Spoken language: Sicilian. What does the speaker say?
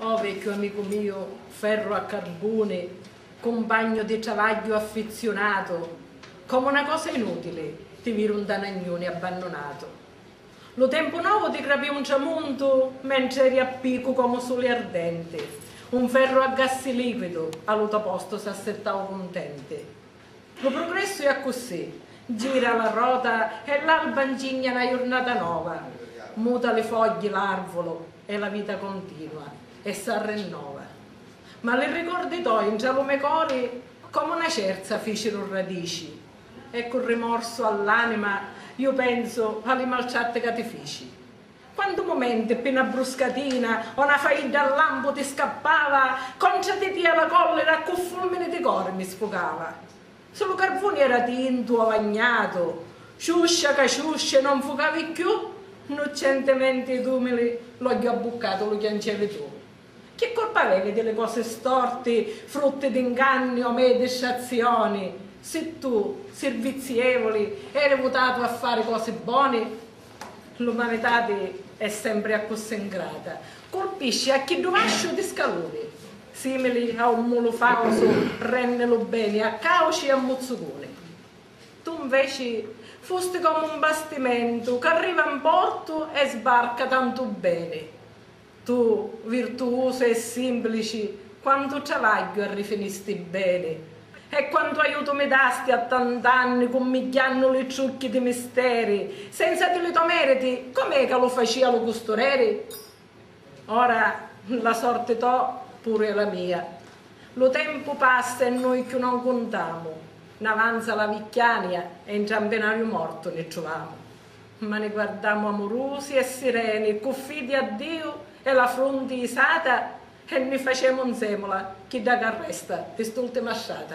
Oh vecchiu amicu miu, ferru a carbuni, cumpagnu di travagghiu affizziunatu, comu 'na cosa inutili ti vidu 'nta 'na gnuni abbannunatu. Lu tempu novu ti grapiu un tramuntu mentri eri a picu comu suli ardenti, un ferru a gassi liquidu a lu to postu s'assittau cuntenti. Lu prugressu è accussì, gira la rota e l'alba ncigna na jurnata nova, muta li fogghi l'arvulu e la vita continua e s'arrinnova. Ma li ricordi toi ntra lu me cori comu na cerza ficiru radici e cu rimorsu all'anima ju pensu a li maltratti ca ti fici. Quantu mumenti ppi 'na bruscatina o 'na faidda a lampu ti scappava, contra di tia la collira ccu fulmini di cori mi sfugava. Si lu carvuni era tintu o vagnatu, ciuscia ca ciuscia e non fucavi cchiù, nnuccentimenti ed umili l'ogghiu abbuccatu lu chiancevi tu. Chi curpa avevi di li cosi storti, frutti di 'nganni o mei distrazioni, si tu, sirvizievuli, eri vutatu a fari cosi boni? L'umanitati è sempri accussì 'ngrata, curpisci a chiddu vasciu di scaluni, simili a un mulu fausu renni lu beni a cauci e a muzzucuni. Tu nveci fusti comu un bastimentu c'arriva 'n portu e sbarca tantu beni. Tu virtuusu e simplici quantu travagghiu arrifinisti beni e quantu aiutu mi dasti a tant'anni cummigghiannu li trucchi di misteri senza di li to meriti com'è ca lu facia lu custureri? Ora la sorti to puru e la mia lu tempu passa e nui cchiù non cuntamu n'avanza la vicchiania e ntra mpenariu mortu ni truvamu. Ma ni guardamu amurusi e sireni cu fidi a Diu e la frunti isata e ni facemu nzemula chidda ca resta di st'ultima strata.